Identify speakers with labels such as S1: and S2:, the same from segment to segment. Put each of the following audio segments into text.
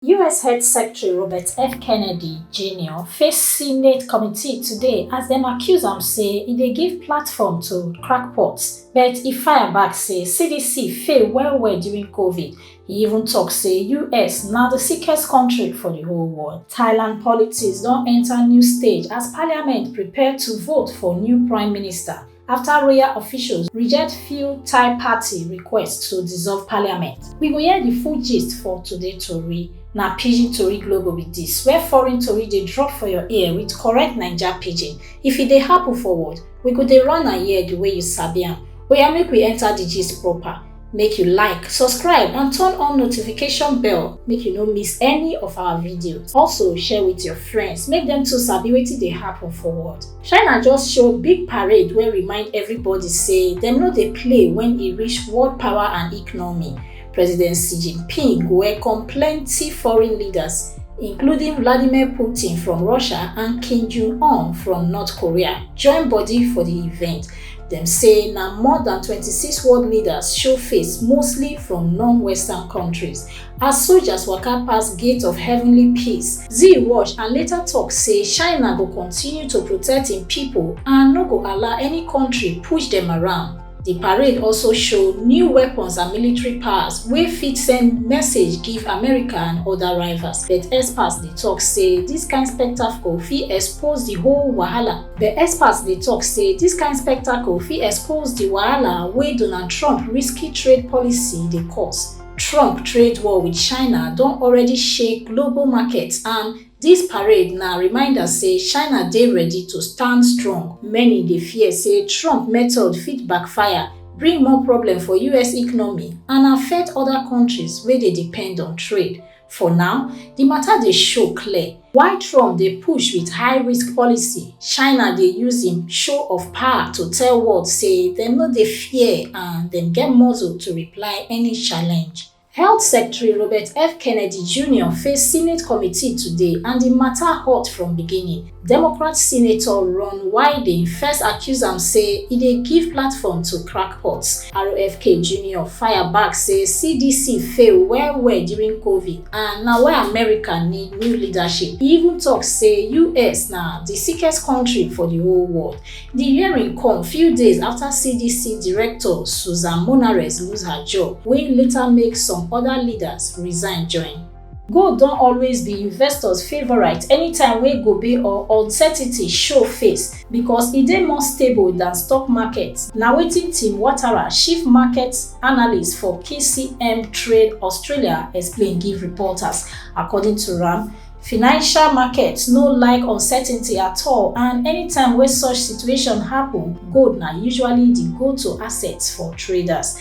S1: us health secretary robert f kennedy jr face senate committee today as dem accuse am say e dey give platform to crackpots but e fire back say cdc fail well-well during covid e even tok say us na di sickest kontri for di whole world. thailand politics don enta new stage as parliament prepare to vote for new prime minister. afta royal officials reject few thai party request to dissolve parliament we go hear di full gist for today tori na pidgin tori global be dis where foreign tori dey drop for your ear with correct naija pidgin if e dey happen forward we go dey run am here di way you sabi am oya make we enter di gist proper make you like subscribe and turn on notification bell make you no miss any of our videos also share with your friends make dem too sabi wetin dey happen for world China just show big parade wey remind everybody say dem no dey play when e reach world power and economy. President Xi Jinping welcome plenty foreign leaders, including Vladimir Putin from Russia and Kim Jong-un from North Korea, join body for di event. Dem say na more than 26 world leaders show face, mostly from non-Western countries. As soldiers waka pass gate of heavenly peace, Xi watch and later talk say China go continue to protect im pipo and no go allow any kontri push dem around. Di parade also show new weapons and military powers wey fit send message give America and oda rivals, but experts dey talk say dis kain spectacle fit expose di whole wahala. But experts dey talk say dis kain spectacle fit expose di wahala wey Donald Trump risky trade policy dey cause. Trump trade war with China don already shake global markets and dis parade na reminder say China dey ready to stand strong. Many dey fear say Trump method fit backfire, bring more problem for us economy and affect other countries wey dey depend on trade. For now, di mata dey show clear why Trump dey push wit high-risk policy, China dey use im show of power to tell world say dem no dey fear and dem get muscle to reply any challenge. Health Secretary Robert F. Kennedy Junior face Senate committee today and di mata hot from beginning. democrat senator ron wyden first accuse am say e dey give platform to crackpots rfk junior fire back say cdc fail well well during covid and na why america need new leadership e even tok say us na di sickest kontri for di whole world di hearing come few days afta cdc director susan monares lose her job wey later make some oda leaders resign join Gold don always be investors favourite anytime wey gobe or uncertainty show face because e dey more stable than stock market, na wetin Tim Watara, chief market analyst for KCM Trade Australia explain give reporters. According to am, financial markets no like uncertainty at all and anytime wey such situation happen, gold na usually di go-to asset for traders.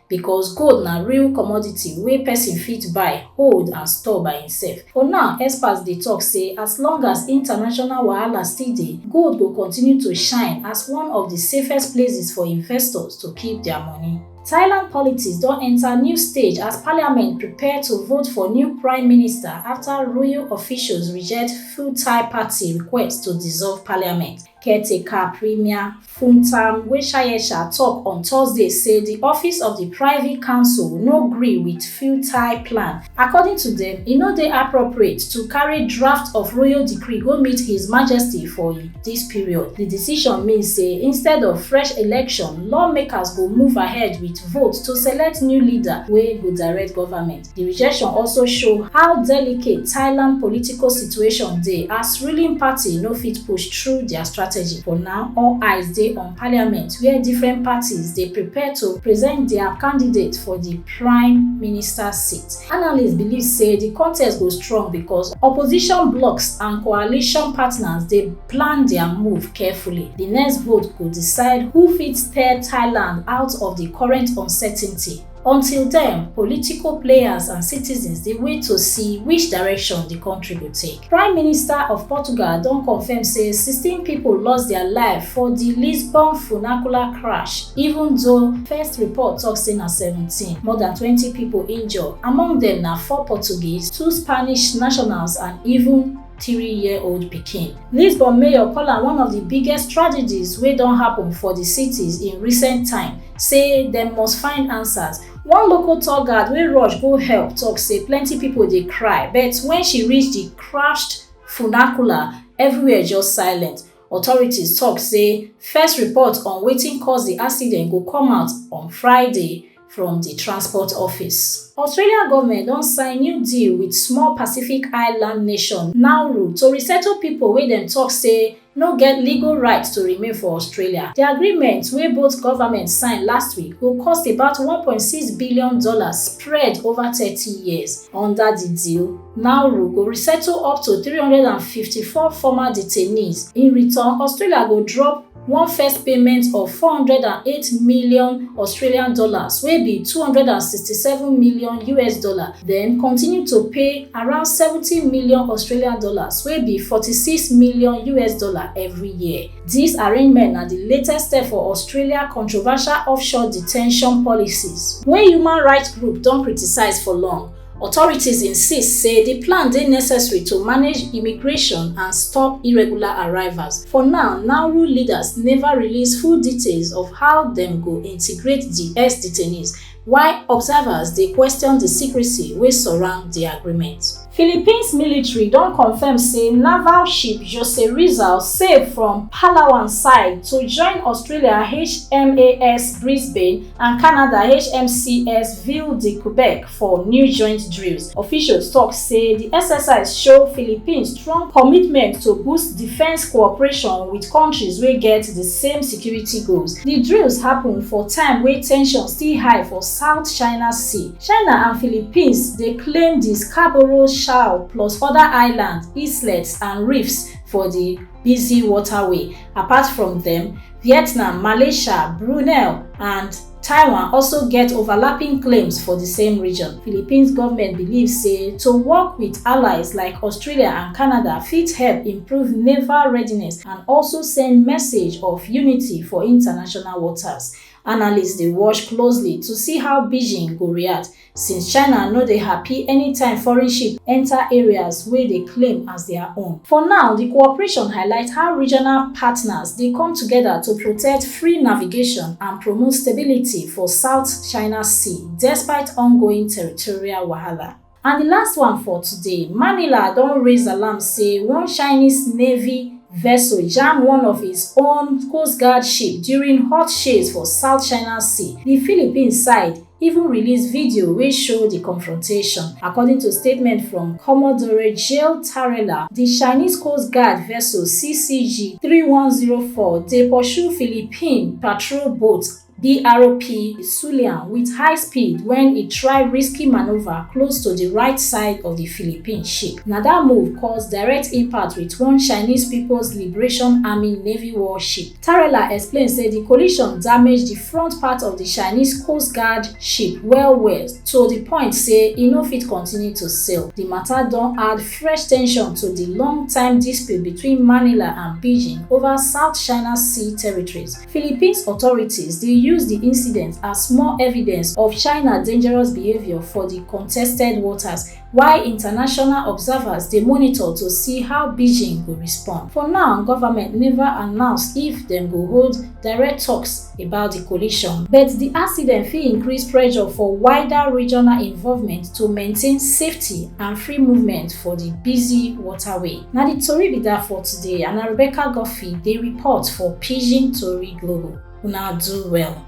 S1: because gold na real commodity wey person fit buy, hold and store by himself. For now, experts dey talk say as long as international wahala still dey, gold go continue to shine as one of the safest places for investors to keep their money. Thailand politics don enter new stage as parliament prepare to vote for new prime minister after royal officials reject Pheu Thai party request to dissolve parliament. Caretaker Premier Funtam Weshayesha tok on Thursday say di office of di Privy Council no gree wit Futai plan. According to dem, e no dey appropriate to carry draft of royal decree go meet His Majesty for dis period. Di decision mean say instead of fresh election, lawmakers go move ahead wit vote to select new leader wey go direct government. Di rejection also show how delicate Thailand political situation dey as ruling party no fit push through dia strategy. For now, all eyes dey on parliament wia different parties dey prepare to present dia candidate for di prime minister seat. Analysts believe say di contest go strong becos opposition blocs and coalition partners dey plan dia move carefully. Di next vote go decide who fit steer Thailand out of di current uncertainty. Until den, political players and citizens dey wait to see which direction di kontri go take. Prime Minister of Portugal don confirm say sixteen pipo lost dia life for di Lisbon funacular crash, even though first report tok say na seventeen. More dan twenty pipo injure, among dem na four Portuguese, two Spanish nationals and even. three-year-old pikin. Lisbon mayor call am one of di biggest tragedies wey don happen for di cities in recent time, say dem must find answers. One local tour guard wey rush go help tok say plenty pipo dey cry, but wen she reach di crashed funacula, everywhere just silent. Authorities tok say first report on wetin cause di accident go come out on Friday. from di transport office. Australia goment don sign new deal wit small Pacific island nation Nauru to resettle pipo wey dem tok say no get legal right to remain for Australia. Di agreement wey both government sign last week go cost about one point six billion dollars spread over thirty years. Under di deal, Nauru go resettle up to three hundred and fifty four former detainees. In return, Australia go drop one first payment of 408 million Australian dollars wey be 267 million US dollar, then continue to pay around 70 million Australian dollars wey be 46 million US dollar every year. Dis arrangement na di latest step for Australia controversial offshore detention policies wey human rights group don criticise for long. Authorities insist say di plan dey necessary to manage immigration and stop irregular arrivals. For now, Nauru leaders neva release full details of how dem go integrate di ex detainees, while observers dey question di secrecy wey surround di agreement. Philippines military don confirm say naval ship Jose Rizal sail from Palawan side to join Australia HMAS Brisbane and Canada HMCS Ville de Quebec For new joint drills, officials tok say di exercise show Philippines strong commitment to boost defence cooperation wit kontris wey get di same security goals. Di drills happun for time wey tension still high for South China Sea. China and Philippines dey claim di Scarborough Shoal plus oda islands, islets and reefs for di busy waterway. Apart from dem, Vietnam, Malaysia, Brunei and. Taiwan also get overlapping claims for di same region. Philippines government believe say to work wit allies like Australia and Canada fit help improve naval readiness and also send message of unity for international waters. Analysts dey watch closely to see how Beijing go react since China no dey happy anytime foreign ship enter areas wey dey claim as their own. For now, di cooperation highlight how regional partners dey come together to protect free navigation and promote stability for South China Sea despite ongoing territorial wahala. And di last one for today, Manila don raise alarm say one Chinese Navy vessel jam one of its own Coast Guard ship during hot chase for South China Sea, di Philippines side, even release video wey show di confrontation. According to statement from Commodore Gilles Tarella, di Chinese Coast Guard vessel CCG three one zero four dey pursue Philippine patrol boat BRP Sulian wit high speed wen e try risky manoeuvre close to di right side of di Philippine ship. Na dat move cause direct impact wit one Chinese People's Liberation Army Navy warship. Tarella explain say di collision damage di front part of di Chinese Coast Guard ship well-well to di point say e no fit continue to sail. Di mata don add fresh tension to di long-time dispute between Manila and Beijing over South China Sea territories. Philippines authorities dey use di incident as more evidence of China dangerous behaviour for di contested waters. while international observers dey monitor to see how beijing go respond for now government neva announce if dem go hold direct toks about di collision but di accident fit increase pressure for wider regional involvement to maintain safety and free movement for di busy waterway na di tori be dat for today and na rebecca godfrey dey report for pidgin tori global una do well